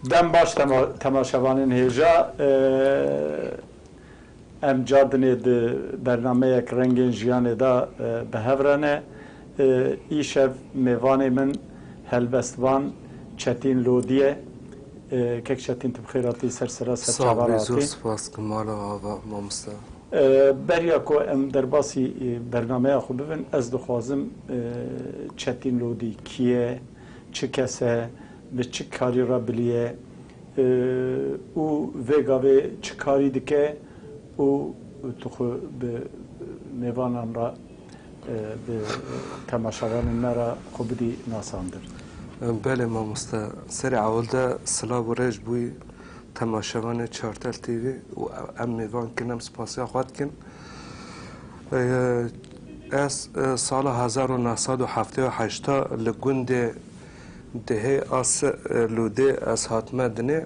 Dem baş temaşevanên hêja em cadinê di bernameyek rengên jiyanê de bi hev re ne. Îşev mêvanê min helbestvan Çetîn Lodî ye. Kek Çetîn tu bi xêr hatî ser sera ser çavan hatî. Sağ bî zor spas ki mala ava mamosta. Beriya ku em derbasî bernameya xwe bibin ez dixwazim Çetîn Lodî kî ye, çi kes e, bi çi karî re bilî ye û vê gavê çi karî dike û tu xwe bi mêvanan re Bi temaşevanên me re xwe bidî nasandin. Belê mamoste. Serê ewelde silav û rêj bûyî temaşevanê Çartel TV û em mêvan kin, em spasiya xwe dikin. Ez sala hezar û neh sed û heftê û heşta li gundê Dihê a Lûdê ez hatime dinê.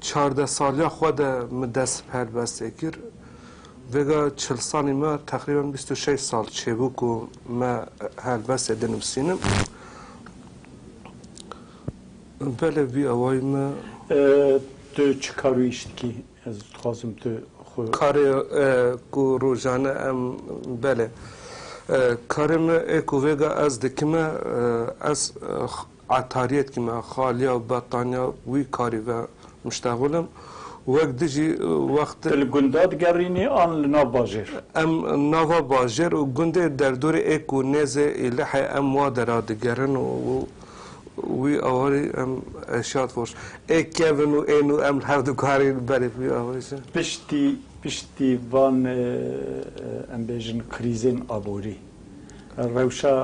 Çardeh saliya xwe de min dest bi helbestê kir. Vêga çil salî me teqrîben bîst û şeş sal çêbû ku me helbestê dinivîsînim. Belê vî awayî me. Tu çi kar û îş dikî? Ez dixwazim tu xwe. Karê ku rojane em belê. Karê me ê ku vêga ez dikim e, ez Etariyekî me xaliya û bettaniya wî karî ve muşteğil im û wek dijî wextê. Tu li gunda digerînî an li nav bajêr? Em nava bajêr û gundê derdorê ê ku nêzê Îlihê em wa dera digerin û wî awarî em eşyat xweş ê kevin û ên û em li hev dikarîn berê bi wî awarî jin. Piştî piştî van em bêjin krîzên aborî Rewşa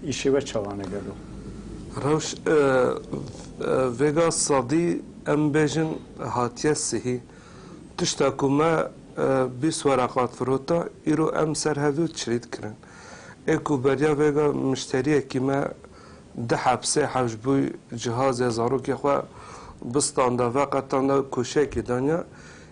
îşê we çawa ne gelo? Rewş vêga sadî em bêjin hatiye sihî. Tişta ku me bîst weraqat firota îro em ser hevdû çilî dikirin. Ê ku beriya vêga mişteriyekî me di hepsê hewş bû cihazê zarokê xwe bistanda veqetanda koşeyekê daniya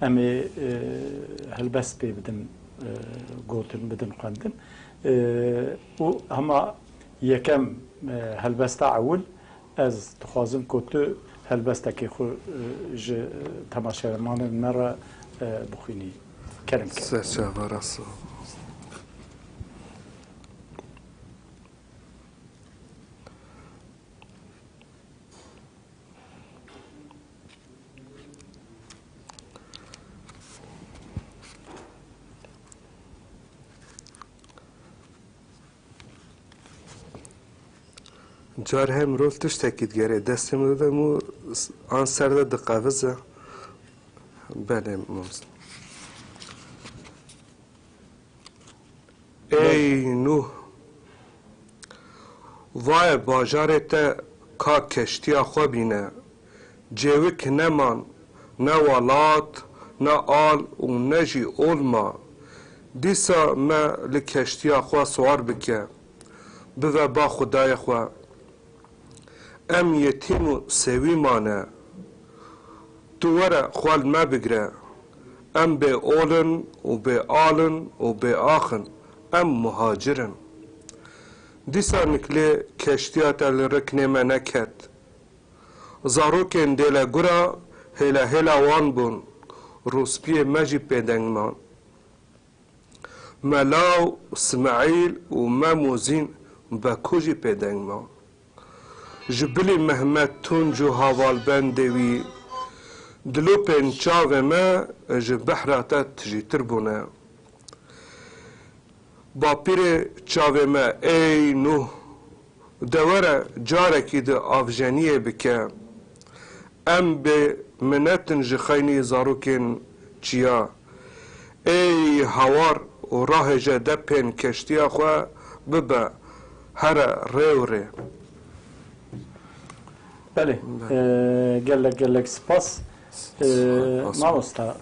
Em ê helbest pê bidin gotin, bidin xwendin û hema yekem helbesta ewil ez dixwazim ku tu helbestekê xwe ji temaşevanên me re bixwînî. Kerem Kerem. Serçava rasa. Car her mirov tiştekî digerê destê min de mû an ser de diqevize. Belê mams. Ey nû. Vaye bajarê te ka keştiya xwe bîne. Cêwik neman, ne welat, ne al û ne jî ol ma. Dîsa me li keştiya xwe siwar bike, bive ba xwedayê xwe. Em yetîm û sewî mane. Tu were xwe li me bigire. Em bê ol in û bê al in û bê ax in. Em muhacir in. Dîsa nikilê keştiya te li riknê me neket. Zarokên dêle gura hêla hêla wan bûn, rûspiyê me jî pê deng man. Mela û Smaîl û Mem û Zîn Beku jî pê deng man. Ji bilî Mehmet Tunc û havalbendê wî dilopên çavê me ji behra te tijîtir bûne. Bapîrê çavê me Ey Nuh De were carekî di avjeniyê bike. Em bê minetin ji xeynî zarokên çiya. Êy hawar û rahêje de pên keştiya xwe bibe here rê û rê. Belê, gelek gelek spas mamosta.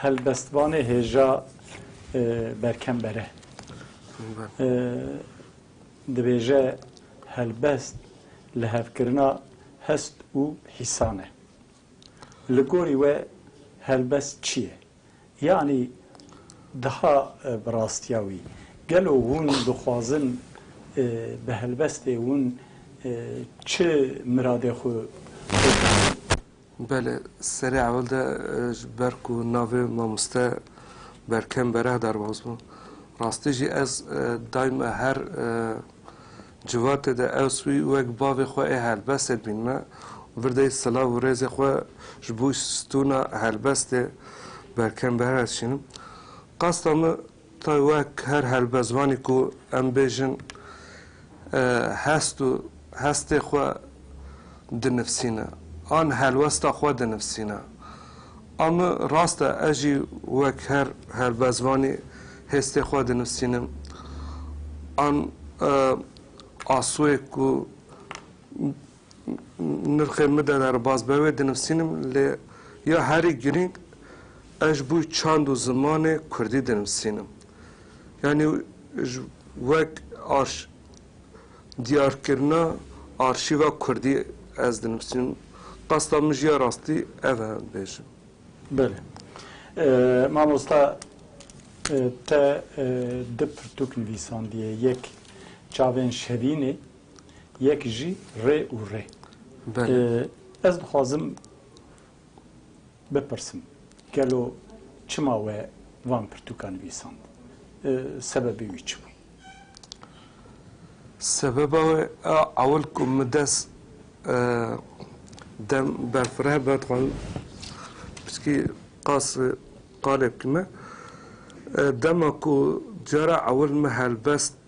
Helbestvanê hêja berkem bere. Dibêje helbest lihevkirina hest û hîsan e. Li gorî we helbest çi ye? Yanî daha bi rastiya wî, gelo hûn dixwazin bi helbestê wan çi miradê xwe bikin? Belê, serê ewil de ji ber ku navê mamoste Berkem Bereh derbas bû. Rastî jî ez dayme her civatê de ews wî wek bavê xwe ê helbestê dibînme û vir de yî silav û rêzê xwe ji bo stûna helbestê Berkem Bereh dişînim. Qasta min Tay wek her helbestvanê ku em bêjin hest û hestê xwe dinivsîne an helwesta xwe dinivsîne. A min rast e ez jî wek her helbestvanê hêstê xwe dinivsînim an asûyê ku Nirxê min de derbas be wê dinivîsînim lê ya herî girîng ez ji bo çand û zimanê kurdî dinivîsînim. Yanî wek diyarkirina arşîva kurdî ez dinivîsînim. Qasda min jî ya rastî ev e bêjim. Belê. Mamosta te du pirtûk nivîsandiye. Yek Çavên Şevînê. Yek jî rê û rê. Ez dixwazim bipirsim, gelo çima we van pirtûka nivîsand? Sebebê wî çi bû? Sebeba wê a ewil ku min dest dem berfireh be dixwazim piskî qas qalê bikîme. Dema ku cara ewil min helbest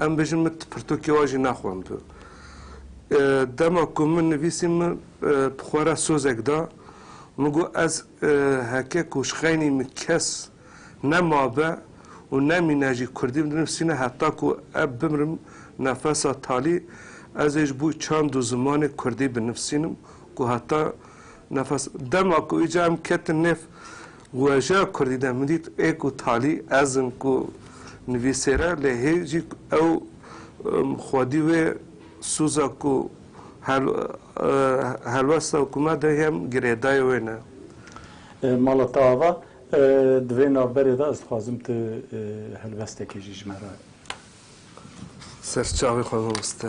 Em bêjin min tu pirtûkê wan jî naxwendû. Dema ku min nivîsî min bi xwe re sozek da. Min got ez heke ku ji xeynî min kes ne mabe û ne mîne jî kurdî binivîsîne heta ku ez bimirim nefesa talî ez ê ji bo çand û zimanê kurdî binivîsînim ku heta Nefes, dema ku îcar em ketin nêv wejeya kurdî de min dît ê ku talî ez im ku nivîsêr e lê hê jî ew xwedî wê sûza ku helwesta ku me de yem girêdayê wê ne. Mala te ava, di vê navberê de ez dixwazim tu helwestekê jî ji me re. Ser çavê xwe biwiste.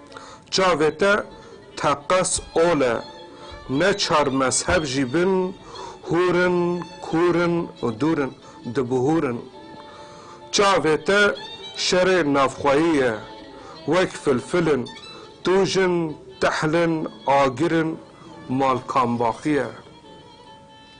Çavê te teqes ol e. Ne çar mezheb jî bin, hûr in, kûr in û dûr in, dibihûr in. Çavê te şerê navxweyî ye. Wek filfil in, tûj in, tehl in, agir in, malkambaxî ye.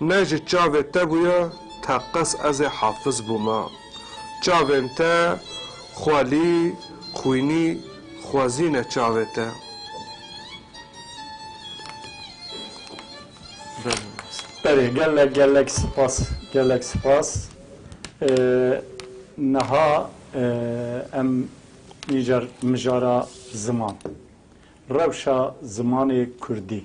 Ne ji çavê te bûye teqez ez ê hafiz bûme. Çavên te xwelî, xwînî, xwezî ne çavê te. Berê gelek gelek sipas gelek sipas niha em nîjar mijara ziman rewşa zimanê kurdî.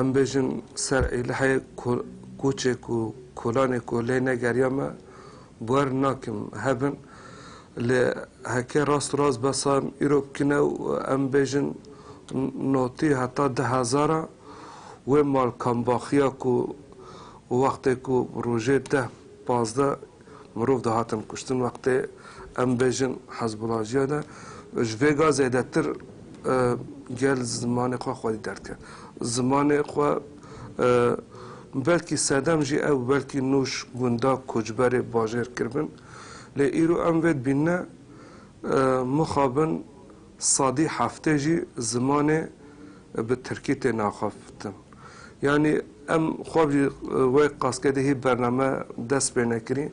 Em bêjin ser Êlihê koçek û kolanê ku lê negeriya me bwer nakim hebin. Lê heke rast û rast be sayem îro kine û em bêjin notî heta di hezara wê malkambaxiya ku wextê ku rojê deh pazdeh Mirov dihatin kuştin wextê em bêjin Hezbollah jiya de ji vê ga zêdetir gel zimanê xwe xwedî derdiket. Zimanê xwe belkî sedem jî ew belkî nûş gundak koçberê bajêr kiribin lê îro em vê dibînin ne mixabin Sadî hefte jî zimanê bi tirkî tê naxaftin. Yanî em xwe bi wê qaskedê hî bername dest pê nekirîn.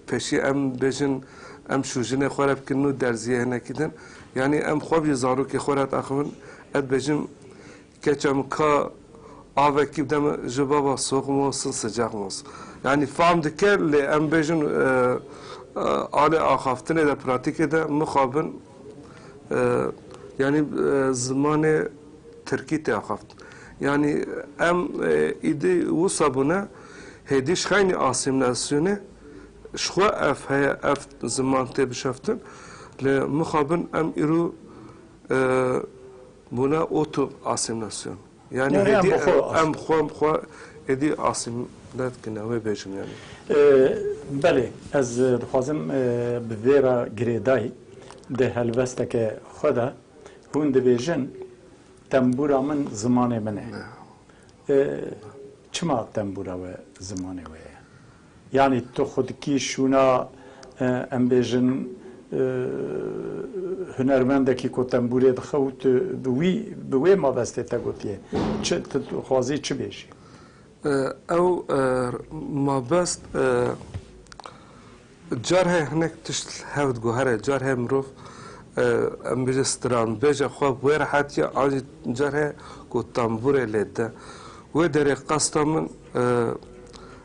Pêşî em bêjin em şûjinê xwe re bikirîn û derzîyê hinekî din. Yanî em xwe bi zarokê xwe re diaxivin, ez dibêjim Keça min ka avekî bide min ji bava soxm û sin sicex min. Yanî fehm dike lê em bêjin alê axaftinê de pratîkê de mixabin yanî zimanê tirkî tê axaftin. Yanî em îdî wisa bûne hêdî ji xeynî asîmîlasyonê ji xwe ev heye ev ziman tê bişeftin lê mixabin em îro Bûna auto asîmîlasyon. Yanî Yanî em hêdî bi xwe em asîm. em xwe bi xwe êdî asîmîle dikine wê bêjim yanî. Belê ez dixwazim bi vê re girêdayî di helwesteke xwe de hûn dibêjin tembûra min zimanê min e. Çima tembûra we zimanê we ye? Yanî tu xwedikî şûna em bêjin hunermendekî ku tembûrê dixe û tu bi wî bi wê mabestê te gotiye çi? Tu dixwazî çi bêjî? Ew mabest car heye hinek tişt li hev diguhere. Car heye mirov em bêje stranbêje xwe bi wê re hatiye an jî car heye ku tembûrê lê de. Wê derê qasta min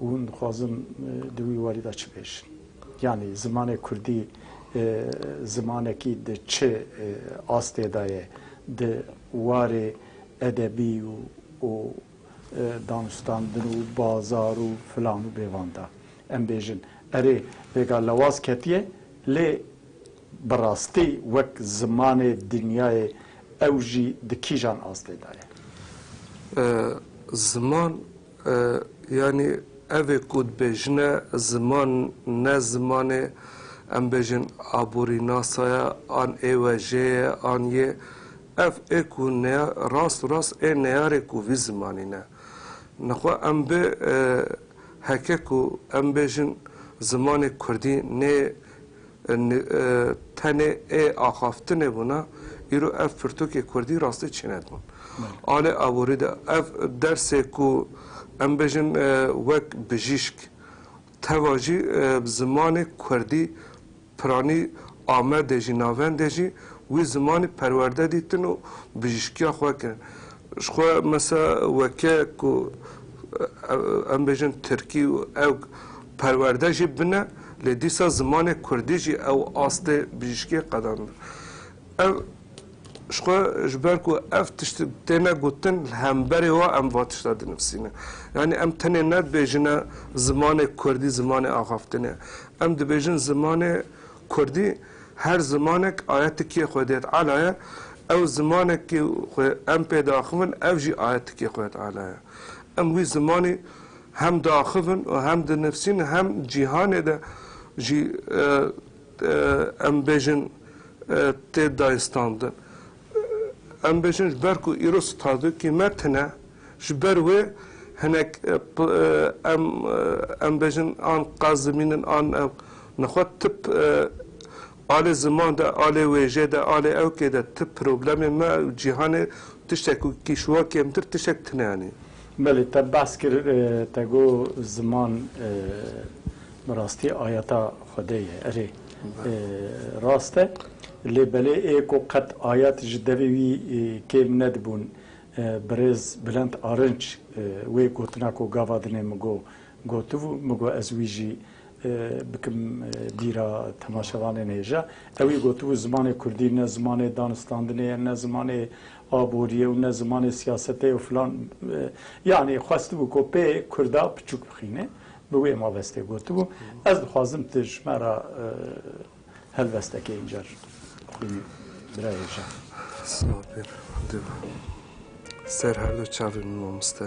Hûn dixwazin di wî warî de çi bêjin? Yanî zimanê kurdî zimanekî di çi astê de ye di warê edebî û danûstandin û bazar û filan û bêvan de? Em bêjin erê vêga lewaz ketiye lê Bi rastî wek zimanê dinyayê ew jî di kîjan astê de ye? Ziman yanî ev ê ku dibêjine ziman ne zimanê em bêjin aborînasa ye an ê wejê ye an yê ev ê ku rast û rast ê neyarê ku vî zimanî ne. Nixwe em bi heke ku em bêjin zimanê kurdî nê Tenê ê axaftinê bûna, îro ev pirtûkê kurdî rastî çêne dibûn. A lê aborî de ev dersê ku em bêjin wek bijîşk teva jî bi zimanê kurdî piranî Amedê jî navendê jî wî zimanî perwerde dîtin û bijîşkiya xwe kirin. Ji xwe mesa weke ku em bêjin tirkî û ewg perwerde jî bine lê dîsa zimanê kurdî jî ew astê bijîşkiyê qedandin. Ev ji xwe ji ber ku ev tişt têne gotin li hemberê wan em van tişta dinivîsîne. Yanî em tenê ne dibêjine zimanê kurdî zimanê axaftinê ye. Em dibêjin zimanê kurdî. Her zimanek aya tikiyê xwe dê di ala ye, ew zimanekî xwe em pê diaxivin ev jî aya tikiyê xwe di ala ye. Em wî zimanî hem diaxivin û hem dinivîsin hem cîhanê de jî em bêjin tê dayînstandin. Em bêjin ji ber ku îro Stadûkî me tune, ji ber wê hinek em em bêjin an qaz dimînin an ew nexwe tip alê ziman de, alê wêjê de, alê ewkê de tip problemê me û cîhanê tiştek ku kî ji wan kêmtir tiştek tune anî. Belê te behs kir te got ziman bi rastî ayeta Xwedê ye. Erê. Rast e. Lê belê ê ku qet ayet ji devê wî kêm nedibûn. Birêz Bilent Arinç wê gotina ku gava dinê min got, gotibû. Min got ez wî jî bikim bîra temaşevanên hêja. Ew wî gotibû zimanê kurdî ne zimanê danistandinê ye, ne zimanê aborî ye û ne zimanê siyasetê ye û filan. Yanî xwestibû ku pê kurda piçûk bixîne. Bi wê mabestê gotibû, Ez dixwazim tu ji me re helwesteke încer bixwînî birayê Jean. Silav pir, div ser her du çavên min mamoste.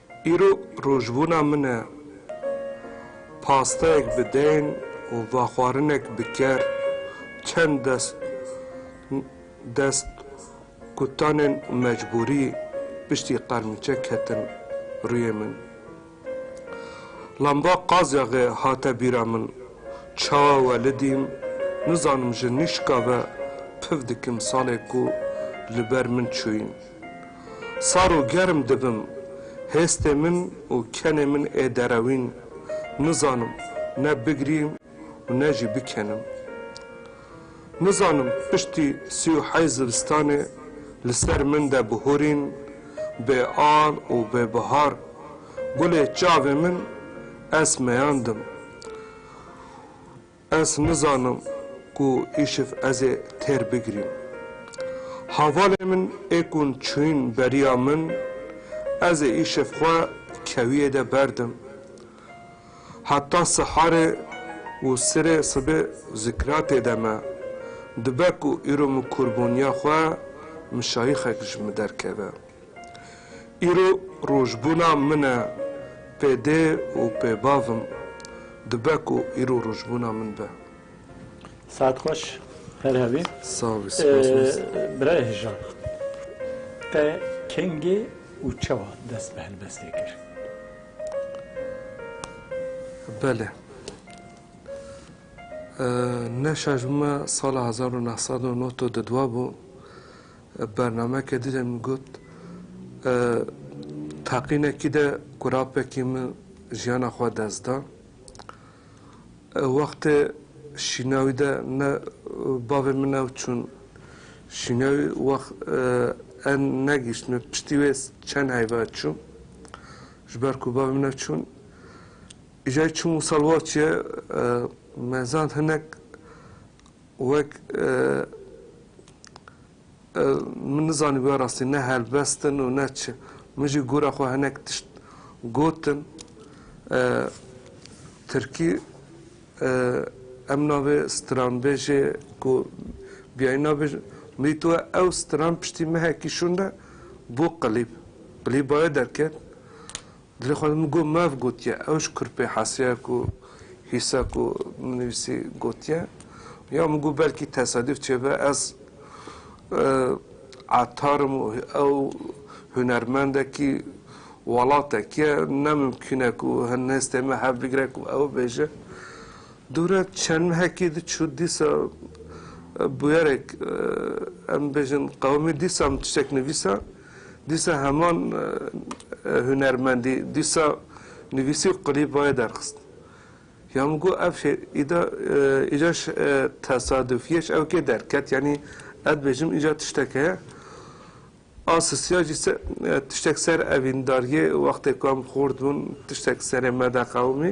Îro rojbûna min e. Pasteyek bi deyn û vaxwarinek bi ker, çend dest dest kutanên mecbûrî piştî qermîçek ketin rûyê min. Lamba qazyaxê hate bîra min. Çawa welidîm, nizanim ji nîşka ve piv dikim salê ku li ber min çûyîn. Sar û germ dibim, hêstê min û kenê min ê derewîn, nizanim ne bigirîm û ne jî bikenim. Nizanim piştî sî û heyî zivistanê li ser min de bihûrîn, bê al û bê bihar, gulê çavê min ez meyandim. Ez nizanim ku îşiv ez ê têr bigirîm. Havalê min ê kun çûyîn beriya min, ez ê îşiv xwe kewiyê de berdim. Heta siharê û sirê sibê zikra tê de me. Dibe ku îro min kûrbûniya xwe, mişayixek ji min derkeve. Îro rojbûna min e pê dê û pê bavim dibe ku îro rojbûna min be. Saet xweş her hebî. Sağ bî spas mez. Birayê Hijan te kengê û çawa dest bi helbestê kir? Bele. Ne şajbime sala hezar û neh sed û nod û didwa bû. Bernameke dî de min got teqînekî de ku rapekî min jiyana xwe dest da. Wextê şînawî de ne bavê min ew çûn şînawî wext en negîşt min piştî wê çend heyva çûm. Ji ber ku bavê min ew çûn îjayî çûm û salwaçiye me zand hinek Wek min nizanîbûye rastî ne helbest in û ne çi. Min jî gora xwe hinek tişt gotin. Tirkî em navê stranbêjê ku biyayî nabêjin. Min dîtûye ew stran piştî mehekî şûnde bû qilîb. Qilîba wê derket. Dilê xwe min got mev gotiye ew ji kurpê hesiya ku hîsa ku min nivîsî gotiye ya min got belkî tesadîf çêbe ez etar im û ew hunermendekî welatekî ye ne mimkîn e ku hin nêstê me hev bigire ku ew bêje. Dûre çend mehekî diçû dîsa bûyerek em bêjin qewimî dîsa min tiştek nivîsa. Dîsa heman hunermendî, dîsa nivîsî û qilîbayê derxist. Ya min got ev şê îda îca tesadufîye ji ew kê derket yanî ez dibêjim îca tiştek heye. A sisiya jî tiştek ser evîndarîyê wextê ku em xort bûn tiştek serê me de qewimî.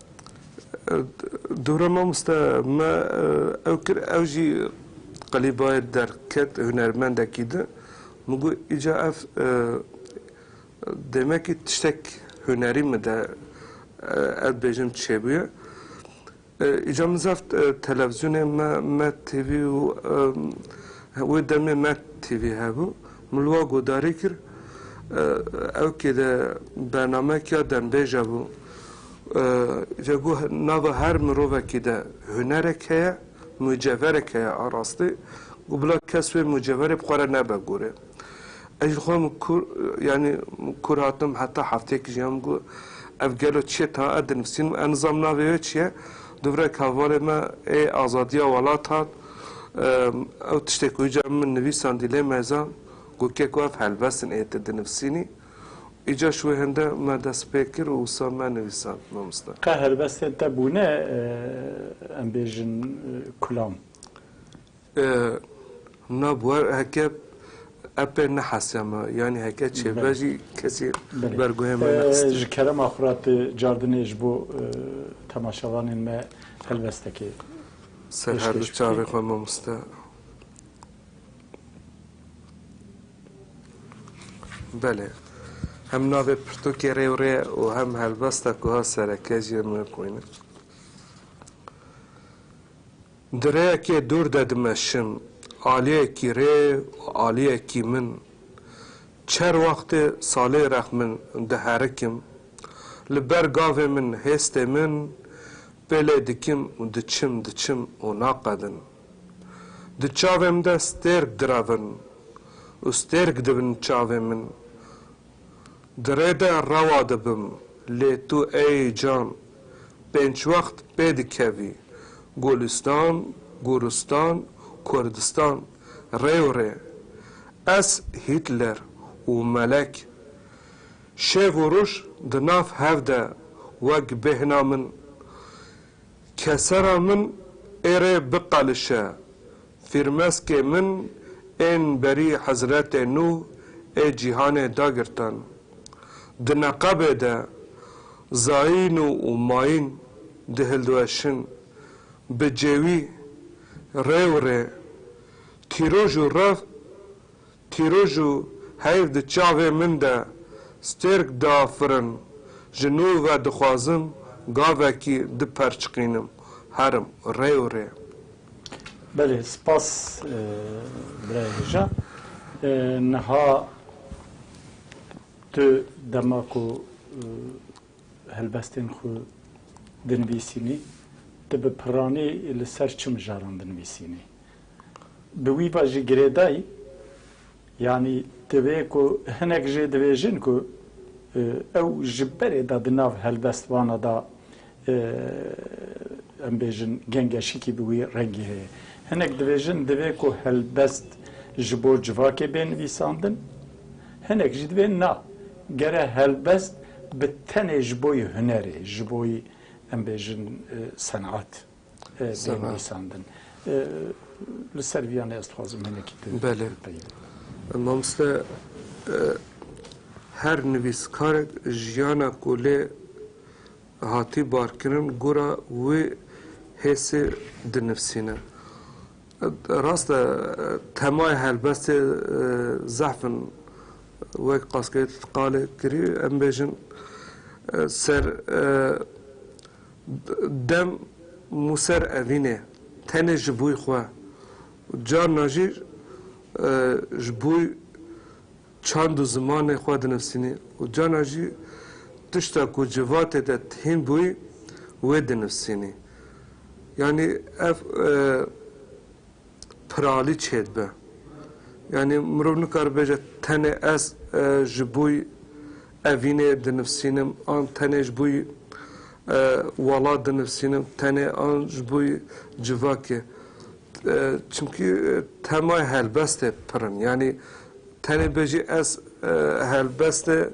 Dûra mamoste me ew kir, ew jî qelîbayê derket hunermendekî di. Min got îca ev demekî tiştek hunerî min de ez dibêjim çêbûye. Îca min zaf televizyonê me Met TV û wê demê Met TV hebû. Min li wan guhdarî kir. Ew kê de bernameyek ya dembêj hebû. Ji bo nava her mirovekî de hunerek heye, mucevherek heye a rastî û bila kes wê mucevherê bi xwe re nebe gorê. Ez ji xwe min kûr, yanî min kûr hatim heta hefteyek jiya min got ev gelo çi ye tana ez dinivîsînim, ez nizam navê wê çi ye. Du virek havalê me ê azadiya welat hat, ew tiştê ku îcar min nivîsandî lê me zan got keko ev helbest in ê tu dinivîsînî. Îca ji wê hinde me dest pê kir û wisa me nivîsand mamoste. Qe helbestên te bûne em bêjin kulam? Na bûer heke epê nehesiya me yanî heke çêbe jî kesî berguhê me nexistî. Ji kerema xwe re tu cardinê ji bo temaşevanên me helbestekê pêşkêş bikî. Serherdû çavê xwe mamoste. Belê. Hem navê pirtûkê rê û rê û hem helbesta ku hat sereke jî em ê bixwînin. Di rêyekê dûr de dimeşim, aliyekî rê û aliyekî min. Çer wextê salê rex min diherikim. Li ber gavê min hêstê min pêlê dikim û diçim diçim û naqedin. Di çavê min de stêrk diravin û stêrk dibin çavê min. Di rê de rewa dibim lê tu ey can pênc wext pê dikevî Gulîstan, Gûristan, Kurdistan rê û rê. Ez Hîtler û Melek, Şêv û Rûş di nav hev de wek bêhna min Kesera min êrê biqelişe. Fîrmeskê min ên berî Hezretê Nuh ê cîhanê dagirtan. Di neqebê de zayîn û mayîn dihildoeşin. Bi cêwî, rêwirê, tîroj û rev Tîroj û heyv di çavê min de stêrk da firin, ji nû ve dixwazim gavekî diperçiqînim herim rê û rê. Belê spas birayê hêja. Niha tu dema ku helbestên xwe dinivîsînî, tu bi pirranî li ser çi mijaran dinivîsînî? Di wî ve jî girêdayî yanî divê ku hinek jê dibêjin ku ew ji berê de di nav helbestvana de em bêjin gengeşikî bi wî rengî heye. Hinek dibêjin divê ku helbest ji bo civakê bê nivîsandin, hinek jî divê na, gere helbest bi tenê ji boî hunerê, ji boî em bêjin senat. tên nivîsandin. Li ser vîyan ez dixwazim hinekî tu bipeyivî. Belê. Mamoste her nivîskarek jiyana ku lê hatî barkirin gora wê hêsê dinivîsîne. Rast e temayê helbestê zehf in wek qaskerî tu qalê kirî em bêjin ser Dem Mûser Evînê tenê ji bûy xwe û carna jî ji bûy çand û zimanê xwe dinivsînî û carna jî tişta ku civatê de tihîn bûy wê dinivsînî. Yanî ev piralî çêdibe. Yanî mirov nikaribe bêje tenê ez ji bûy Evînê dinivsînim an tenê ji boî welat dinivsînim tenê an ji boî civakê çimkî temayê helbestê pir in yanî tenê bêjî ez helbestê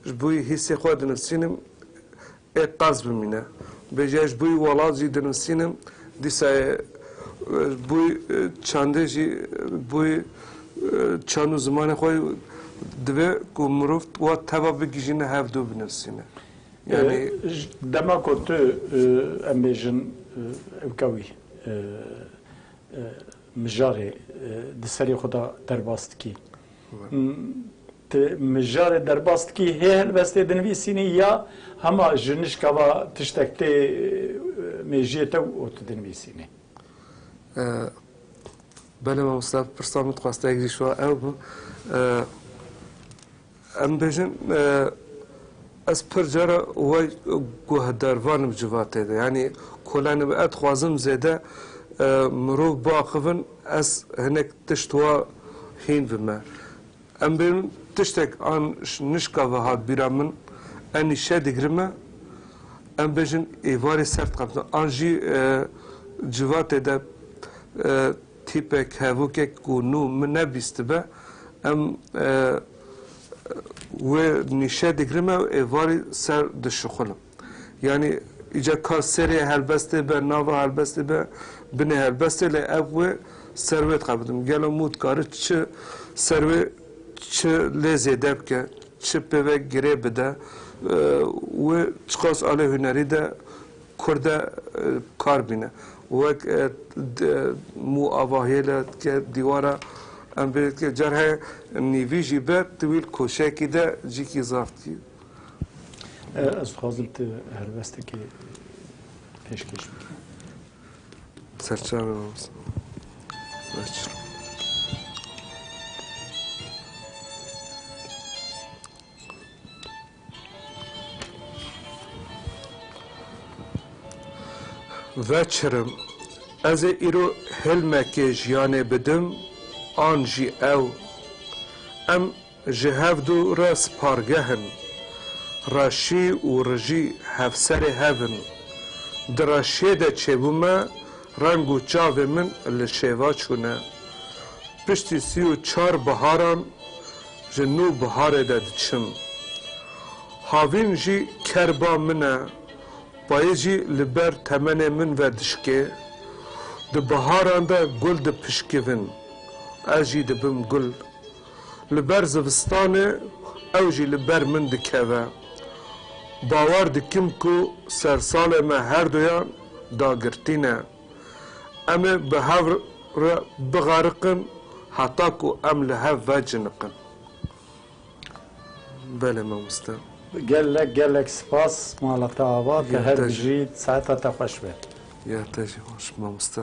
ji boî hîsê xwe dinivsînim Ê qers bimîne. Bêje ji bûyî welat jî dinivîsînim, dîsa ê ji bûyî çandê jî ji bûyî çand û zimanê xwe divê ku mirov wa teva bigihîjîne hev dû binivîsîne. Yanî. Dema ku tu em bêjin ew ke wî mijarê di serê xwe de derbas dikî Ti mijarê derbas dikî hê helbestê dinivîsînî ya hema ji nişka va tiştek tê mêjiyê te û tu dinivîsînî? Bele mamosta pirsa min dixwest te girîş wa ew bû. Em bêjin ez pir cara we guhdar vanim civatê de yanî kolanê bi ez dixwazim zêde mirov biaxivin ez hinek tişt wa hîn bime. Em bên tiştek an nişka ve hat bîra min, enî şe digrime, em bêjin êvarê ser diqemtin, an jî civatê de tîpek, hevokek ku nû min nebîstibe, em wê nî şe digrime û êvarî ser dişixulm. Yanî îcar ka serê helbestê be, nava helbestê be, binê helbestê lê ev wê ser wê dixebitim. Didim gelo mû dikare çi ser wê çi lê zêde bike, çi pê ve girê bide û çiqas alê hunerî de kur de kar bîne. Wek mû avahiyê le dike dîwara em bê dike car heye nîvî jî be tiwîl koşekî de cîkî zaf dikî. Ez dixwazim tu helwestekê pêşkêş bikî. Serçave olsun. Serçave. Veçirim. Ez ê îro hilmekê jiyanê bidim an jî ew. Em Ji hev du re spargeh in. Reşî û rijî hevserê hev in. Di reşiyê de çêbûme reng û çavê min li şêva çûne. Piştî sî û çar biharan ji nû biharê de diçim. Havîn jî ker ba min e. Payîz jî li ber temenê min ve dişkê. Di biharan de gul dipişkivin. Ez jî dibim gul. Li ber zivistanê ew jî li ber min dikeve. Bawer dikim ku sersalê me herduyan dagirtî ne. Em ê bi hev re bixeriqin heta ku em li hev veciniqin. Belê mamoste. Gelek gelek spas mala te ava te her bijî saeta te xweş be. Ya te jî xweş mamoste.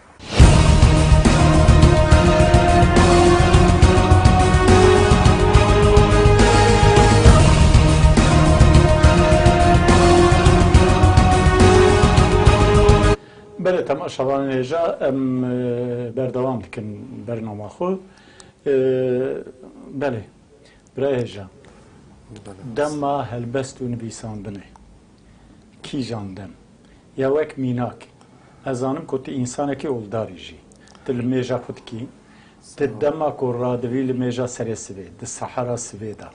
Belê temaşevanên hêja em berdewam dikin bernama xwe. Belê birayê hêja dema helbest û nivîsandinê. Kîjan dem? Ya wek mînak. Ez zanim ku tu însanekî oldarî jî. Tu li mêja xwe dikî. Ti dema ku radivî li mêja serê sivê, di sehera sivê de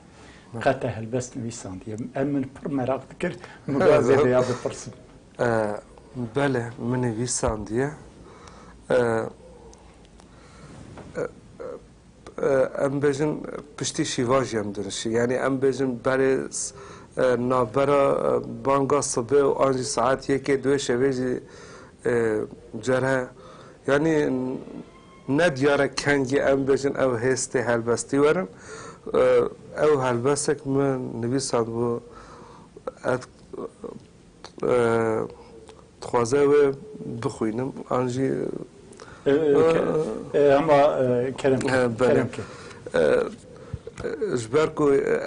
qe te helbest nivîsandiye? Em min pir meraq dikir mûga vê rêya bipirsim. Bele min nivîsandiye. Em bêjin piştî şîvajî em dirişî. Yanî em bêjin berê navbera banga sibê û an jî saet yekê duê şevê jî cerhe. Yanî ne diyare kengî em bêjin ew hêstê helbestî werin. Ew helbesek min nivîsandbû. Dixwaze wê bixwînim an jî. Hema kerem kerem ke. Ji ber ku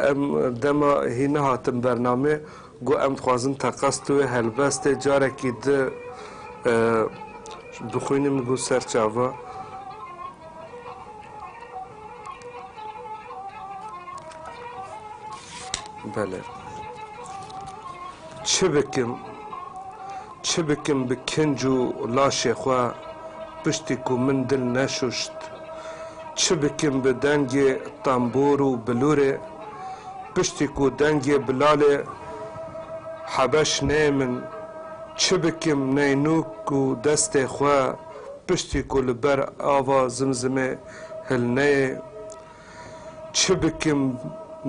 em dema hî nehatin bernamê got em dixwazin teqez tu wê helbestê carekî di bixwînim got ser çava. Bele. Çi bikim? Çi bikim bi kinc û laşê xwe piştî ku min dil neşuşt? Çi bikim bi dengê tembûr û bilûrê piştî ku dengê Bilalê Hebeş neyê min? Çi bikim neynûk û destê xwe piştî ku li ber ava Zimzimê Hil neyê çi bikim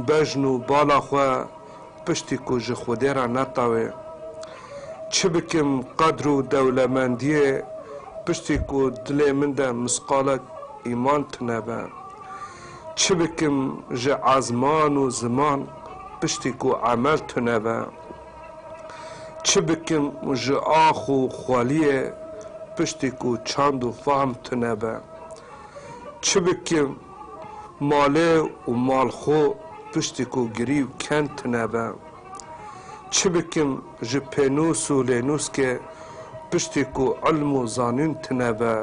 bejn û bala xwe piştî ku ji Xwedê re netawê. Çi bikim qedr û dewlemendiyê piştî ku dilê min de misqalek îman tune be. Çi bikim ji ezman û ziman piştî ku emel tune be. Çi bikim ji ax û xweliyê piştî ku çand û fahm tune be. Çi bikim malê û mal xwe piştî ku girîw ken tune be? Çi bikim ji pênûs û lênûskê piştî ku ilm û zanîn tune be?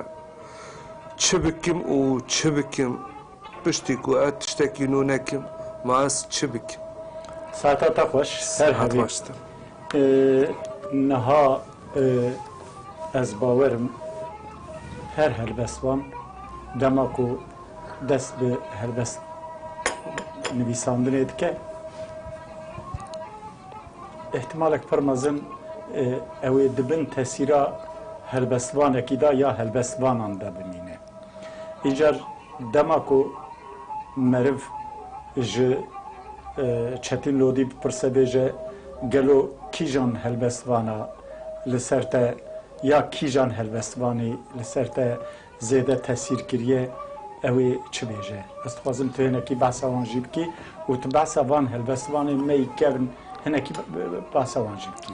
Çi bikim û çi bikim piştî ku ez tiştekî nû nekim? Ma ez çi bikim? Saeta te xweş, her Sihet hebî. baş te. Niha Ez bawer im her helbestvan dema ku dest bi helbest nivîsandinê dike îhtimalek pir mezin ew ê di bin tesîra helbestvanekî de ya helbestvanan de bimîne. Îcar dema ku meriv ji Çetîn Lodî bipirse bêje gelo kîjan helbest vana li ser te ya kîjan helbest vanê li ser te zêde tesîr kiriye ew ê çi bêje? Ez dixwazim tu hinekî behsa wan jî bikî û tu behsa van helbestvanên me yî kevn hinekî behsa wan jî bikî.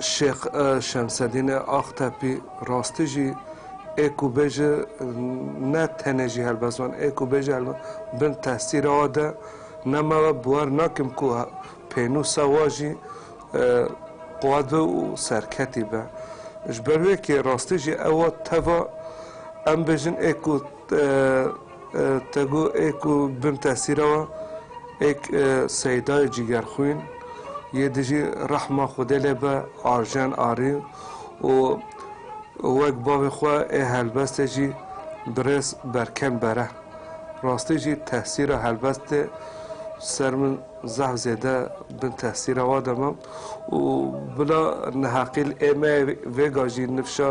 Şêx Şemsedîne Axtepî rastî jî ê ku bêje ne tenê jî helbest van ê ku bêje helbest bin tesîra we de ne me we biwer nakim ku pênûsa we jî qwe be û serketî be. Ji ber wê kê rastî jî ew teva em bêjin ê ku Te got ê ku bin tesîra we êk Seydayê cîgerxwîn yê dijî rehma Xwedê lê be Arjen Arî û wek bavê xwe ê helbestê jî birêz Berkem Bere. Rastî jî tesîra helbestê ser min zehf zêde bin tesîra we de ma û bila neheqîl ê me yê vêga jî nifşa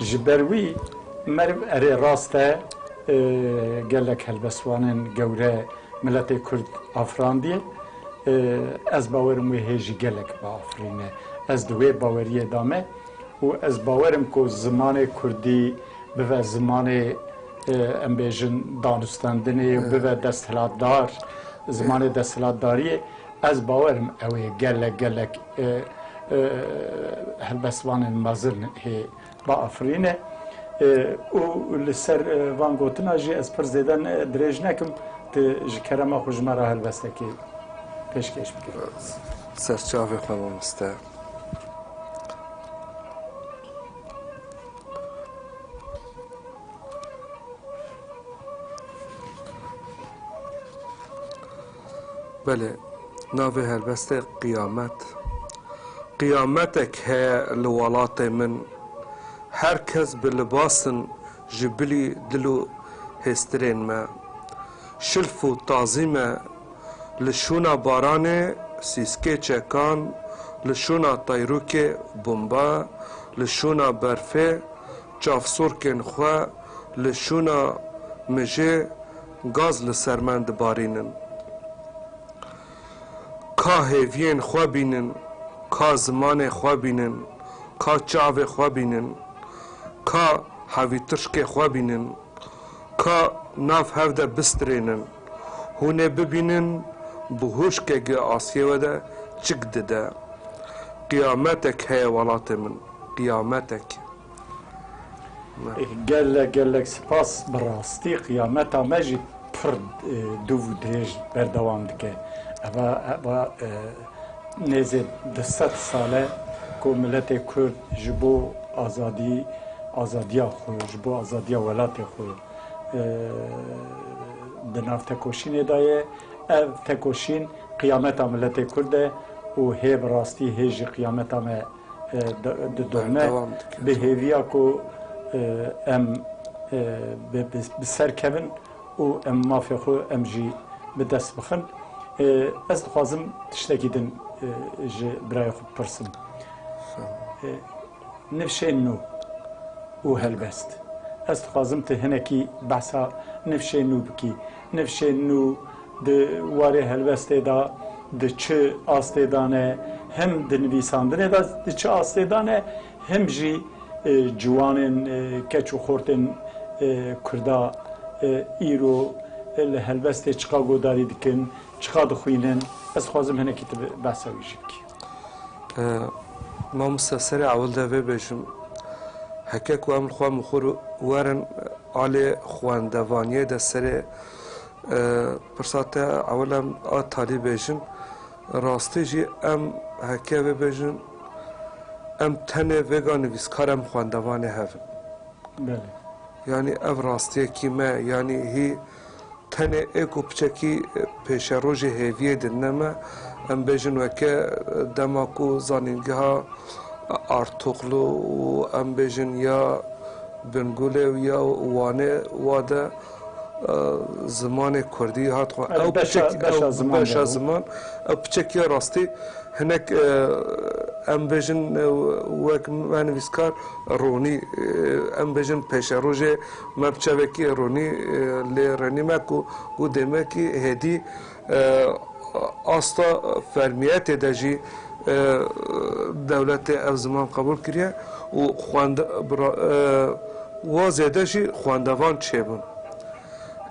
Ji ber wî meriv erê rast e gelek helbestvanên gewre miletê Kurd afirandiye. Ez bawerim wê hê jî gelek biafirîne. Ez di wê baweriyê de me û ez bawerim ku zimanê Kurdî bive zimanê em bêjin danûstandinê û bive desthilatdar, zimanê desthilatdariyê. Ez bawerim ew ê gelek gelek Helbestvanên mezin hê biafirîne û li ser van gotina jî ez pir zêde dirêj nekim, tu ji kerema xwe ji me re helbestekê pêşkêş bike. Serçavê xwe mamoste. Belê, navê helbestê Qiyamet. Qiyametek heye li welatê min. Her kes bi libas in ji bilî dil û hêstirên me. Şilf û tazî me li şûna baranê, sîskê çekan, li şûna tayrûkê, bomba, li şûna berfê, çavsûrkên xwe, li şûna mijê, Gaz li ser me dibarînin. Ka hêviyên xwe bînin, ka zimanê xwe bînin, ka çavê xwe bînin, ka hevîtirşkê xwe bînin, ka nav hev de bistirênin, hûn ê bibînin bi hûşkegê asiyê we de çik dide. Qiyametek heye welatê min, qiyametek. Gelek gelek spas bi rastî qiyameta me jî pir dûv û dirêj berdewam dike. Eva eva nêzê di sed sal e ku miletê kurd ji bo azadî azadiya xwe ji bo azadiya welatê xwe di nav tekoşînê de ye. Ev tekoşîn qiyameta miletê kurd e û hê bi rastî hê jî qiyameta me. didome bi hêviya ku em bi ser kevin û em mafê xwe em jî bi dest bixin. Ez dixwazim tiştekî din ji birayê xwe bipirsim. Nifşên nû û helbest. Ez dixwazim tu hinekî behsa nifşên nû bikî. Nifşên nû di warê helwestê de di çi astê de ne, him di nivîsandinê de di çi astê de ne, him jî ciwanên keç û xortên Kurda îro li helwestê çiqa guhdarî dikin, çiqa dixwînin, ez dixwazim hinekî ti behsa wî jî bikî. Mamoste serê ewil de vê bêjim, heke ku em xwe mixur werin alê xwendevaniyê de serê pirsa te ewil em a talî bêjin. Rastî jî em heke vê bêjin em tenê vêga nivîskar em xwendevanê hev in. Belê. Yanî ev rastiyekî me yanî hî Tenê ê ku piçekî pêşerojê hêviyê din ne me, em bêjin weke dema ku zanîngeha Artûqlu û em bêjin ya Bingûlê û ya Wanê wa de zimanê kurdî hat xwe ew beşa ziman ew piçekî ye rastî hinek em bêjin wek me nivîskar Ronî em bêjin pêşerojê Me bi çavekî ronî lê renîme ku ku dê me kî hêdî asta fermiyetê de jî dewletê ev ziman qebûl kiriye û xwende wa zêde jî xwendevan çêbûn.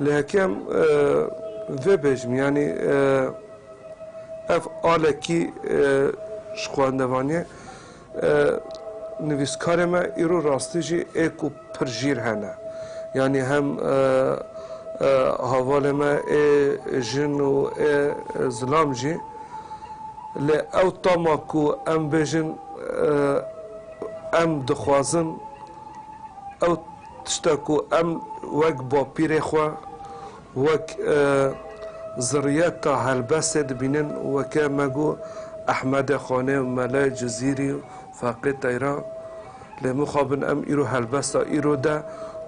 Lê heke em vê bêjim yanî ev alekî ji xwendevaniyê Nivîskarê me îro rastî jî ê ku pir jîr hene. Yanî hem havalê me ê jin û ê zilam jî. Lê ew tama ku em bêjin em dixwazin ew tişta ku em wek bapîrê xwe, Wek zirriyeta helbestê dibînin weke me got Ehmedê Xanê û Mele Cizîrî û Feqê Teyran. Lê mixabin em îro helbesta îro de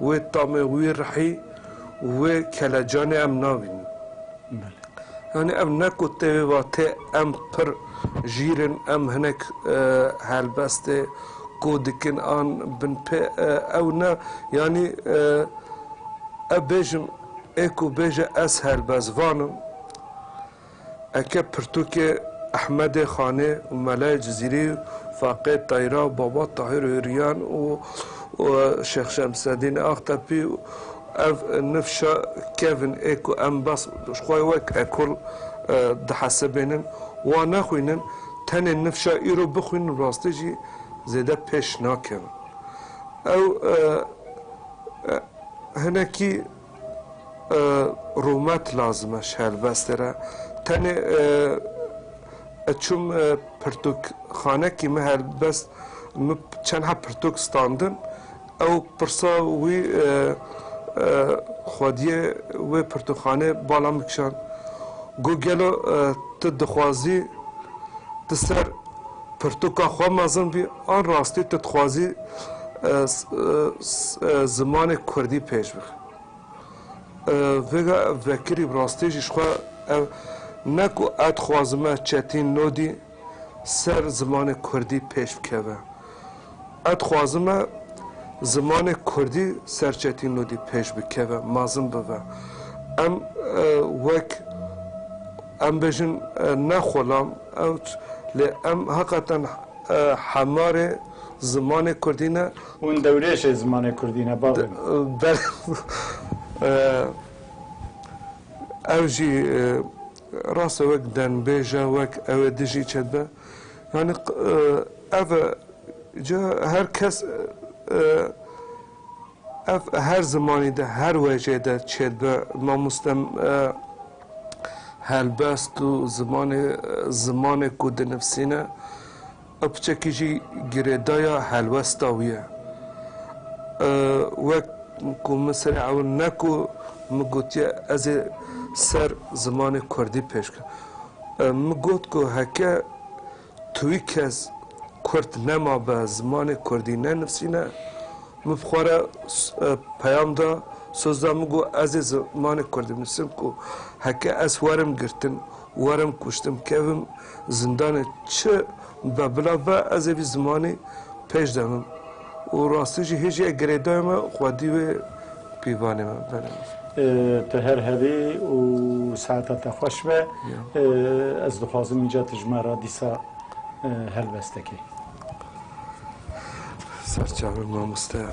wê tamê wî rihî û wê kelecanê em nabînin. Yanî ev ne ku tevê vatê em pir jîr in, em hinek helbestê, Ku dikin an bin pê ew ne yanî ew bêjin ê ku bêje ez helbez van im. Eke pirtûkê Ehmedê Xanê û Melayê Cizîrî û Faqê Tayra û Baba Tahîr Hûrîyan û Şêx Şemseddînê Axtepî û ev nifşa kevin ê ku em bes ji xwe wek ekol dihesibînin wan nexwînin, Tenê nifşa îro bixwînin rastî jî zêde pêş nakevin. Ew hinekî rûmet lazim e ji helbestê re. Tenê ez çûm pirtûkxanekî min helbest min çendha pirtûk standin. Ew pirsa wî xwediyê wê pirtûkxanê bala min kişand, got, Gelo tu dixwazî di ser pirtûka xwe mezin bî an rastî tu dixwazî zimanê kurdî pêş bixî? Vêga vekirî bi rastî jî ji xwe ev ne ku ez dixwazime çetîn nodî, ser zimanê kurdî pêş bikeve. Ez dixwazim e zimanê kurdî ser çetî nûdî pêş bikeve, mazin bive. Em wek em bêjin ne xulam ewç lê em heqeten hemarê zimanê kurdî ne. Hûn dewrêşê zimanê kurdî ne bavê min. Belê. Ew jî. Rast e wek dengbêj e, wek ew ê dijî çê dibe. Yanî ev e ca her kes ev her zimanî de her wecê de çê dibe. Mamoste helbest û zimanê zimanê ku dinivîsîne Ew piçekî jî girêdaya helwesta wî ye. Wek ku min serê ewil ne ku min gotiye ez ê ser zimanê kurdî pêş bikim. Min got ku heke tu wî kes kurd nemabe, zimanê kurdî nenivîsîne, min bi xwe re peyam da, soz da, min got ez ê zimanê kurdî binivîsim ku heke ez werim girtin, Werim kuştim kevim zindanê çi be bila be ez ê vî zimanê pêş de bim û rastî jî hê jî ye girêdayê me xwedî wê pîvanê me bere. Tu her hevê û saeta te xweş be. Ez dixwazim înca tu ji me re dîsa helbeste kî. Ser çavi mamoste.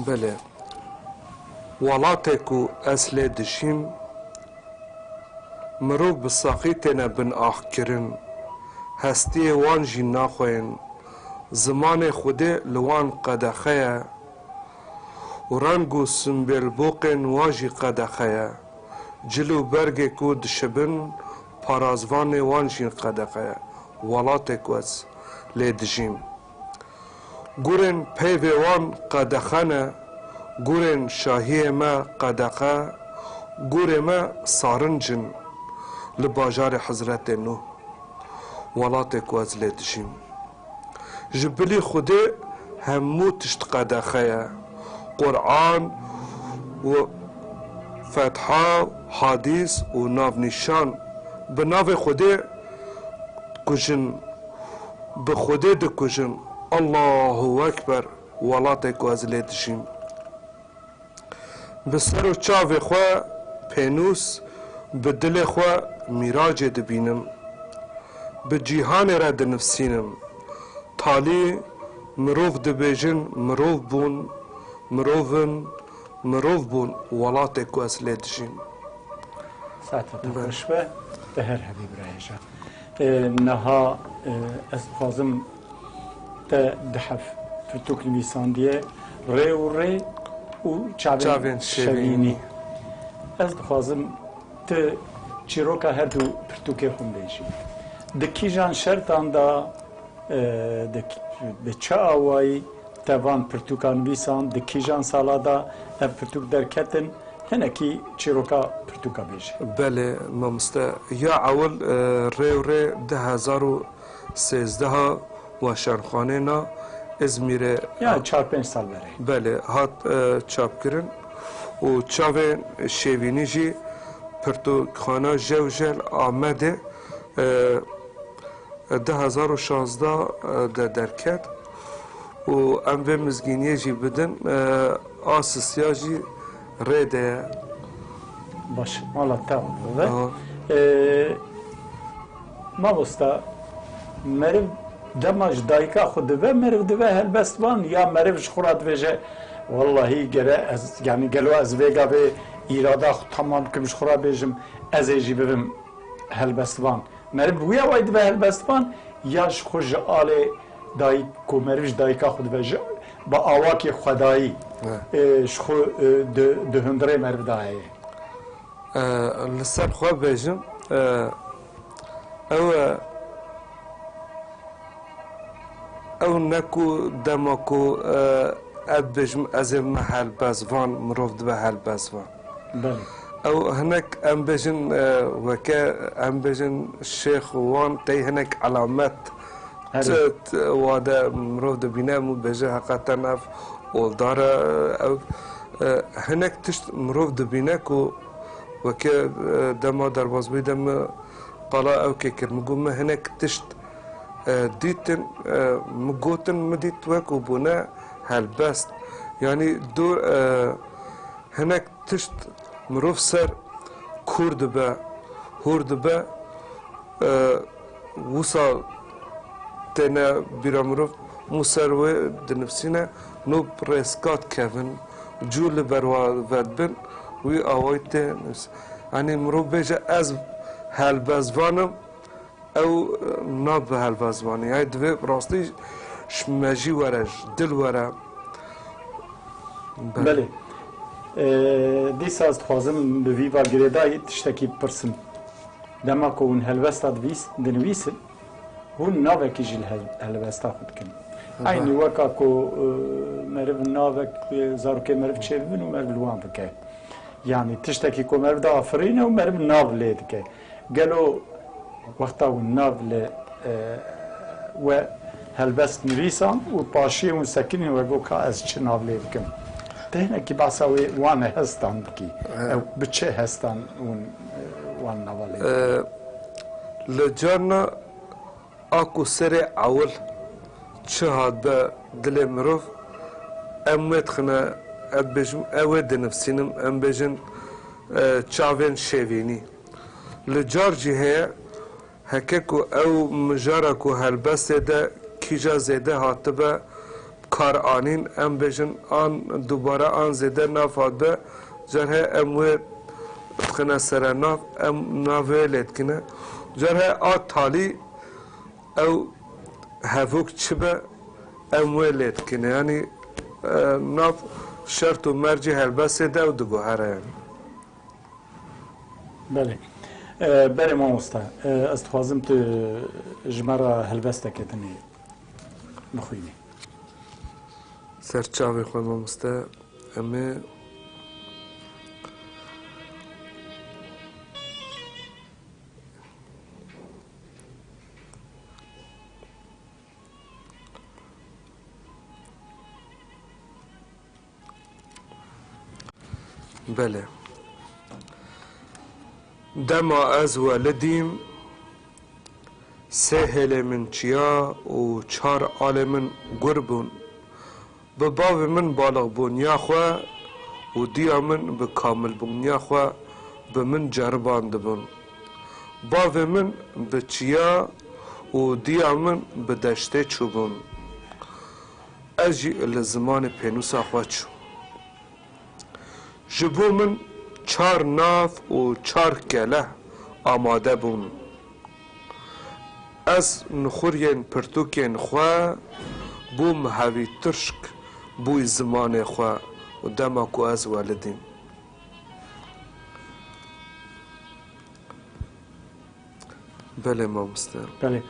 Belê. Welatê ku ez lê dijîm, mirov bi saxî têne binaxkirin, hestiyê wan jî naxweyên, zimanê xwedê li wan qedexe ye, û reng û simbêlboqên wa jî qedexe ye. Cil û bergê ku dişibin parazvanê wan jî qedexe ye. Welatê ku ez lê dijîm. Gurên peyvê wan qedexe ne, gurên şahiyê me qedexe, gurê me sarinc in li bajarê Hizretê Nûh. Welatê ku ez lê dijîm. Ji bilî Xwedê hemû tişt qedexe ye. Quran û Fetha û Hadîs û navnîşan. Bi navê Xwedê dikujin. Bi Xwedê dikujin. Allahu Ekber! Welatê ku ez lê dijîm. Bi ser û çavê xwe pênûs, bi dilê xwe mîracê dibînim. Bi cîhanê re dinivsînim. Talî mirov dibêjin mirov bûn, mirov in, mirov bûn welatê ku ez lê dijîm. Saete te xweş be. Te her hebî birayê şa. Niha ez dixwazim. Te di hev pirtûk nivîsandiye, Rê û rê û çavên şevînî. Ez dixwazim tu çîroka her du pirtûkê xwe bêjî. Di kîjan şertan de, bi çi awayî te van pirtûkan nivîsand, di kîjan sala de ev pirtûk derketin? Hinekî çîroka pirtûka bêje. Belê mamoste. Ya ewil rê û rê du hezar û Sêzdeha weşanxanêna Îzmîrê Yani çar pênc sal berê. belê hat çapkirin û çavên şêvînî jî Pirtûkxana Jewjel Amedê du hezar û şazdeh de derket û em vê mizgîniyê jî bidin a sisiya jî rê de ye. Baş, mala te a. Mamosta, meriv dema ji dayika xwe dive meriv dive helbest wan ya meriv ji xwe re dibêje wellahî gere ez yanî gelo ez vêga vê îrada xwe tamam bikim ji xwe re bêjim ez ê jî bibim helbestvan. Meriv bi wî awayî dive helbestvan ya ji xwe ji alê dayik ku meriv ji dayika xwe dive ji bi awakî xwedayî ji xwe di hundirê meriv de heye. Li ser xwe bibêjim ew ew ne ku dema ku ez dibêjim ez ê bibe helbestvan mirov dibe helbestvan. Belê. Ew hinek em bêjin weke em bêjin şêx û wan tey hinek elamet. Çet wade mirov dibîne em û bêje heqa te nav oldar e ew hinek tişt mirov dibîne ku weke dema derbazbûyî de min qala ew kê kir min got min hinek tişt dîtin min gotin min dît we ku bûne helbest yanî du hinek tişt mirov ser kûr dibe hûr dibe Wisa têne bîra mirov mû ser wê dinivsîne no rêzkat kevin cû li ber wa vedibin wî awayî tê nivîsîne. Yanî mirov bêje ez helbestvan im ew nabe helbestvanê yanî divê bi rastî ji mejî were ji dil were. Belê. Dîsa ez dixwazim bi vî va girêdayî tiştekî bipirsim. Dema ku hûn helwesta dinivîsin, hûn navekî ji helwesta xwe dikin. Eynî weka ku meriv navek zarokê meriv çêbibin û meriv li wan bike. Yanî tiştekî ku meriv diafirîne û meriv nav lê dike. Gelo wexta hûn nav li we helwest nivîsan û paşiyên û sekinên we got ka ez çi nav lê bikim. Ti hinekî behsa wê wan hestan bikî. Ew bi çi hestan hûn Li carna a ku serê ewil çi hat be dilê mirov, em wê dixine, ez dibêjim ew wê dinivsînim, em bêjin çavên şêvînî. Li car jî heye Heke ku ew mijara ku helbestê de kîja zêde hatibe bi kar anîn, em bêjin an dubare an zêde nav hatibe, car he em wê dixine sere nav, em navê wê lê dikine. Car he a talî ew hevok çi be em wê lê dikine. Yanî nav şert û mercê helbestê de ew diguhere. Belê. Belê mamosta. Ez dixwazim tu ji me re helbesteke din ê bixwînî. Ser çavê xwe mamoste. Em ê Belê. Dema ez welidîm sê hêlê min çiya û çar alê min gur bûn. Bi bavê min baliqbûniya xwe û diya min bi kamilbûniya xwe bi min ceribandibûn. Bavê min bi çiya û diya min bi deştê çûbûn. Ez jî li zimanê pênûsa xwe çûm. Ji bo min çar nav û çar kele amade bûn. Ez nuxuriyên pirtûkên xwe bûm hevî tirşk bûy zimanê xwe û dema ku ez welidîm. Belê mamoste. Belê.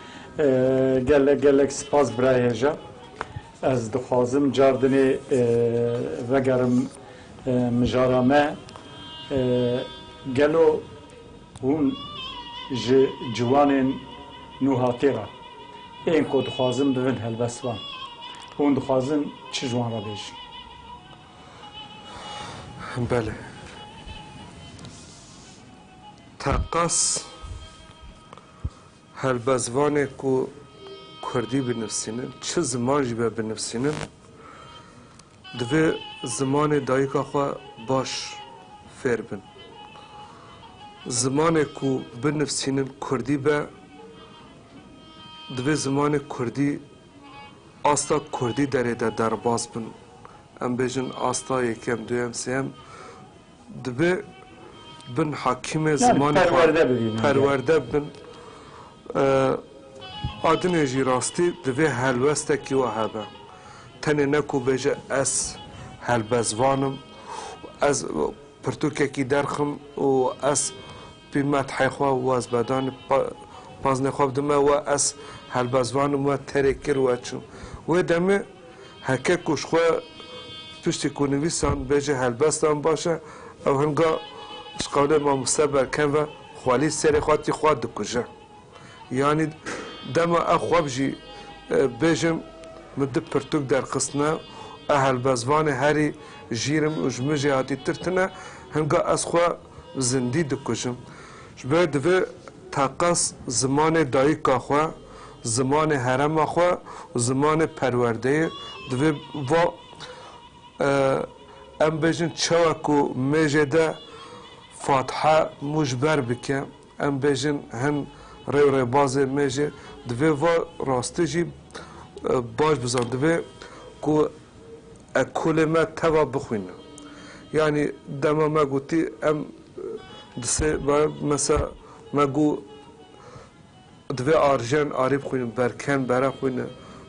Gelek gelek spas bira hêja. Ez dixwazim car dinê vegerim mijara me. Gelo hûn ji ciwanên nûhatê re ên ku dixwazin bibin helbestvan hûn dixwazin çi ji wan re bêjin? Belê. Teqez helbestvanê ku kurdî binivîsînin, çi ziman jî be binivîsînin, divê zimanê dayîka xwe baş fêr bin. Zimanê ku binivîsînin kurdî be, divê zimanê kurdî asta kurdî derê de derbas bin. Em bêjin asta yekem, duyem, sêyem Dibe bin hakîmê zimanê xwe perwerde bin. Adinê jî rastî divê helwestekî wa hebe. Tenê ne ku bêje ez helbestvan im, ez pirtûkekî derxim û ez pî methê xwe wazbedanê paznê xwe bidime we ez helbestvan im we terê kir we çim. Wê demê Heke ku ji xwe piştî ku nivîsan bêje helbesta min baş e, ew hinga ji qewlê mamoste berkem ve xwelî serê xwe tî xwe dikuje. Yanî dema ev xwe bijî bêjim min du pirtûk derxistine û ev helbestvanê herî jîrim û ji min jî hatîtir tune, hinga ez xwe bi zindî dikujim. Ji ber divê teqez zimanê dayika xwe, Zimanê herêma xwe û zimanê perwerdeyê divê va em bêjin çawa ku mêjê de fatiha mû ji ber bike, em bêjin hin rê û rêbazê mêjê divê va rastî jî baş bizan. Divê ku ekolê me teva bixwînin. Yanî dema me gotî em di sê mesela me got Divê arjen arê bixwînin, berken bere xwîne,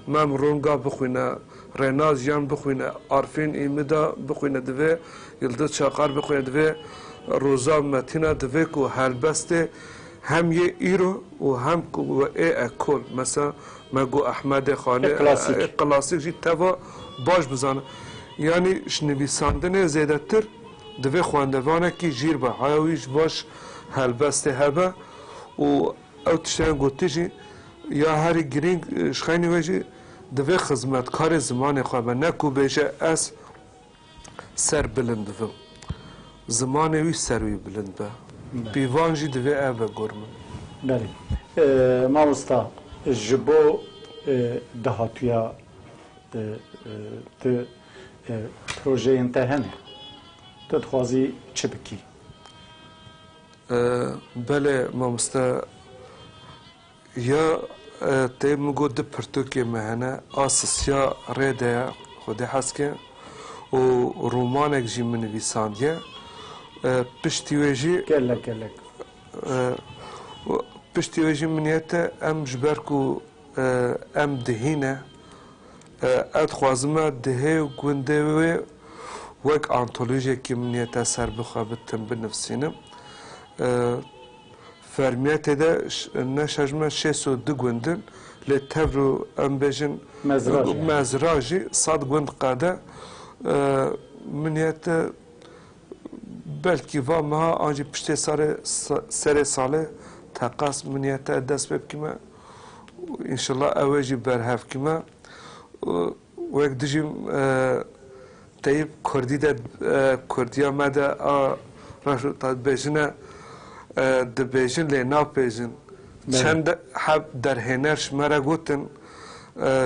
Mem Ronga bixwîne, Rênaz Jiyan bixwîne, Arfîn Îmida bixwîne divê, Yildiz Çakar bixwîne divê, Roza Metîna divê ku helbestê hem yê îro û hem ku bi ê ekol mesela me got Ehmedê Xanê ê klasîk jî teva baş bizane. Yanî ji nivîsandinê zêdetir divê xwendevanekî jîr be, heya wî ji baş helbestê hebe. Û ew tiştên gotî jî ya herî girîng ji xeynî we jî divê xizmetkarê zimanê xwe be, ne ku bêje ez ser bilind dibim. Zimanê wî ser wî bilind be. Pîvan jî divê ev be gor min. Belê. Mamosta ji bo dahatuya tu projeyên te hene? Tu dixwazî çi bikî? Bele mamoste ya te min got du pirtûkê me hene a sisiya rê de ye Xwedê hez ke û romanek jî min nivîsandiye piştî wê jî Gelek gelek. Piştî wê jî min niyet e em ji ber ku Em dihîn e. Ez dixwazim me dihê û gundê wê wek antolojiyekî min niyete ser bixwe bi tim binivsînim. Fermiya tê de ne şer ji me şêst û du gund in lê tevr û em bêjin mezra jî sed gund qede. Min niyete belkî va meha an jî piştê serê salê teqas min niyete dest pê bikîme. û înşellah ew ê jî berhev kime û wek dijîm teyîb kurdî de kurdîya me de a reş û ta dibêjin e dibêjin lê napêjin çend heb derhêner ji me re gotin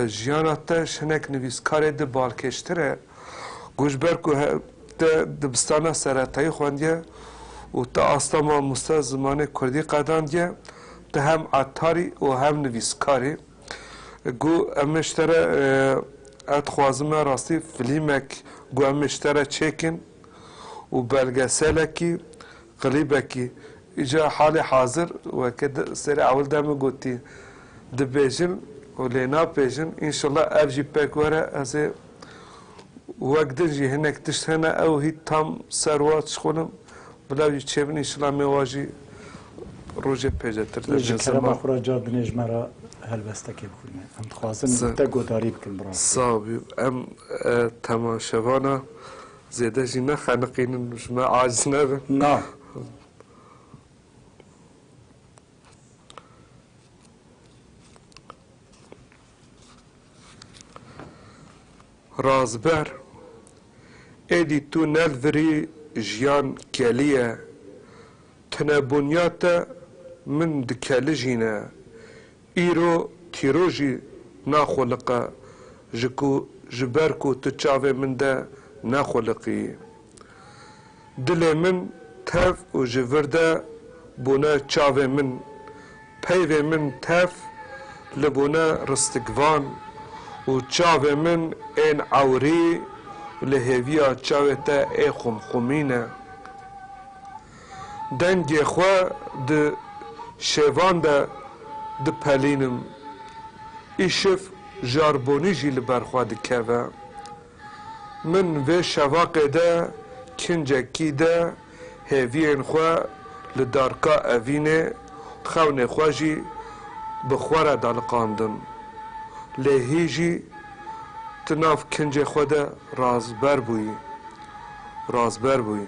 jiyana te ji hinek nivîskarê di balkêştir e. Ku ji ber ku te dibistana seretayî xwendiye û te asta mamoste zimanê kurdî qedandiye, te hem etarî û hem nivîskar î. Ku em ê ji te re ez dixwazim me rastî filîmek ku em ê ji te re çêkin û belgeselekî Qilî Bekî, Îcar halê hazir weke di serê ewil de min gotî dibêjin û lê napêjin, înşella ev jî pek were ez ê wek din jî hinek tişt hene ew hît tam ser wa çixûnim bila jî çêbin înşella mê wa jî rojê pêcetir de bîne ziman. Xwe re car dinê ji me re helwestekê bixwîne. Em dixwazin te guhdarî bikin bravo. Sağ ol em temaşevana Zêde jî nexeniqînin û ji me aciz nebin. Na. Razber, êdî tu nedibirî jiyan kelî ye. Tune bûnya te min dikelijîne. Îro kîro jî naxwiliqe ji ku ji ber ku tu çavê min de nexwiliqiyî. Dilê min tev û ji vir de bûne çavê min, peyvê min tev li bûne ristikvan û çavê min ên ewrî li hêviya çavê te ê xumxumî ne. Dengê xwe di şêvan de dipelînim. Îşiv jarbonî jî li ber xwe dikeve. Min vê şevaqê de kincekî de hêviyên xwe li darka evînê, xewnê xwe jî bi xwe re daliqandim. Lê hî jî tu nav kincê xwe de razber bûyî. Razber bûyî.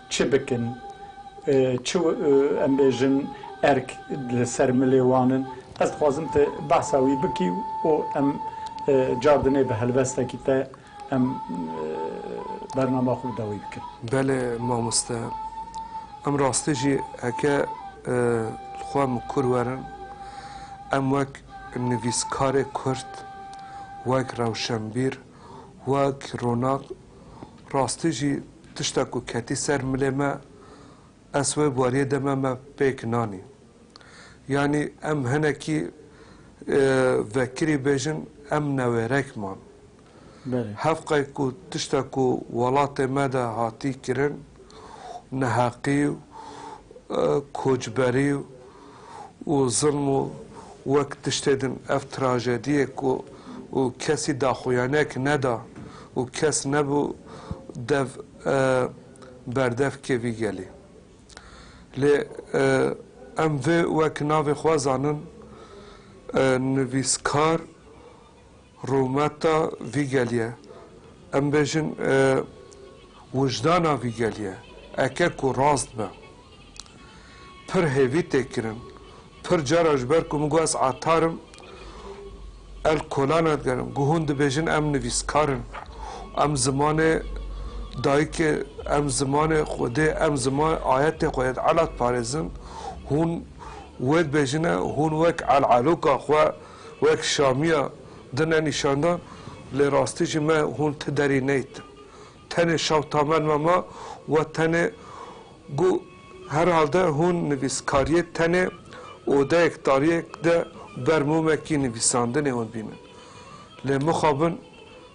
Çi bikin? Çi em bêjin erk li ser milê wan in? Ez dixwazim tu behsa wî bikî û em car dinê bi helwestekî te em bernama xwe bi dawî bikin. Belê mamoste. Em rastî jî heke li xwe min kûr werin, em wek nivîskarê kurd, wek rewşenbîr, wek ronak rastî jî tişta ku ketî ser milê me ez wê wariyê de me me pêk nanî. Yanî em hinekî vekirî bêjin em newêrek man. Hev qey ku tişta ku welatê me de hatî kirin neheqî û kocberî û û zilm û wek tiştê din ev trajediyê ku û kesî daxuyanek neda û kes nebû dev e berdev kê vî gelî. Lê em vê wek navê xwe zanin e nivîskar Rûmeta vî geliye, em bêjin wijdana vî geliye, eke ku rast be, pir hêvî tê kirin. Pir cara ji ber ku min got ez atar im, el kola nadigerim. Ku hûn dibêjin em nivîskar in, em zimanê dayikê, em zimanê Xwedê, em zimanê ayetê xwe yê di ela diparêzin, hûn wê dibêjin e, hûn wek el-eloka xwe, wek şamiya din e nîşandan, lê rastî jî me hûn ti derî neytin. Tenê şewta me nime ma we tenê bû. Herhalde hûn nivîskariyê tenê odeyek tariyek de ber mûmekî nivîsandinê hûn bînin. Lê mixabin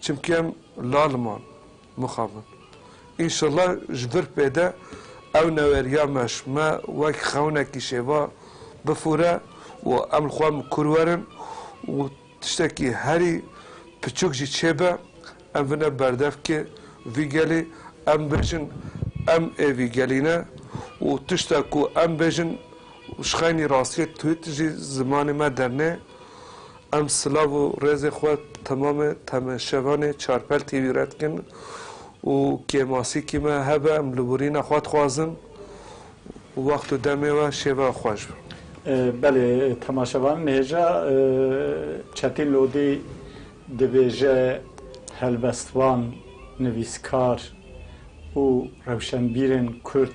Çimkî em lal man, mixabin. Înşella ji vir pê de ew neweriya me ji me wek xewnekî şêva bifûre û em li xwe mikur werin û tiştekî herî piçûk jî çêbe em bine berdevkê vî gelî, em bêjin em ê vî gelî ne û tişta ku em bêjin ji xeynî rastiyê tût jî zimanê me dernê. Em silav û rêzê xwe temamê temeşevanê Çarpel TV'î re dikin û kê masîkî me hebe em li wirîna xwe dixwazin û wext û demê we şêve xweş be. Belê temaşevan nihêja Çetîn Lodî dibêje helbestvan, nivîskar û rewşenbîrên Kurd,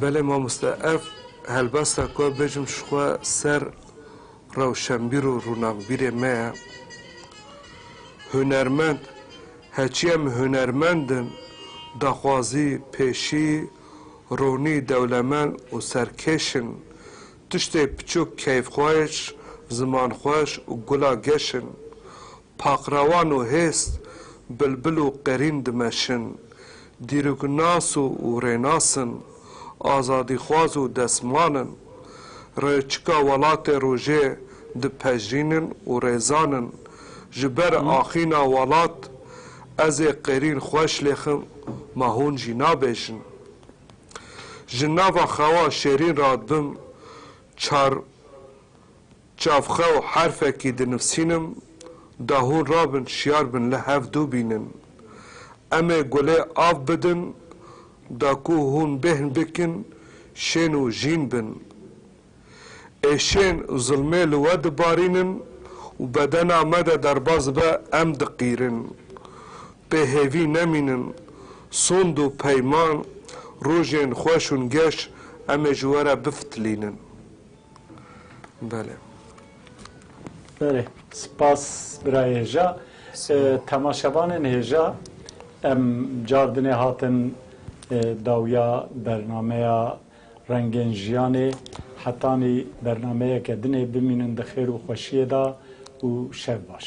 Belê mamoste ev helbesta ku ez bêjim ji xwe ser rewşenbîr û rûnakbîrê me ye. Hunermend, heçî em hunermend in, daxwazî, pêşî, ronî, dewlemend û serkêş in. Tiştê piçûk keyfxweş, zimanxweş û gula geş in. Paqrawan û hês, bilbil û qerîn dimeşin. Dîroknas û rênas in. Azadîxwaz û destman in. Rêçika welatê rojê dipejirînin û rêzan in. Ji ber axîna welat, ez ê qerîn xweş lêxim, ma hûn jî nabêjin. Ji nava xewa şêrîn re din çar çavxew herfekî dinivsînim, da hûn rabin şiyar bin li hev dû bînin. Em ê gulê av bidin, da ku hûn bêhn bikin, şên û jîn bin. Êşên zilmê li we dibarînin û bedena me de derbas dibe, em diqîrin. Pê hêvî nemînin, sond û peyman, rojên xweş û ngeş em ê ji we re bifitilînin. Belê. Belê. Spas bira hêja. Temaşevanên hêja, em car dinê hatin dawiya bernameya Rengên jiyanê hetanî bernameyeke din ê, bimînin di xêr û xweşiyê de û şev baş.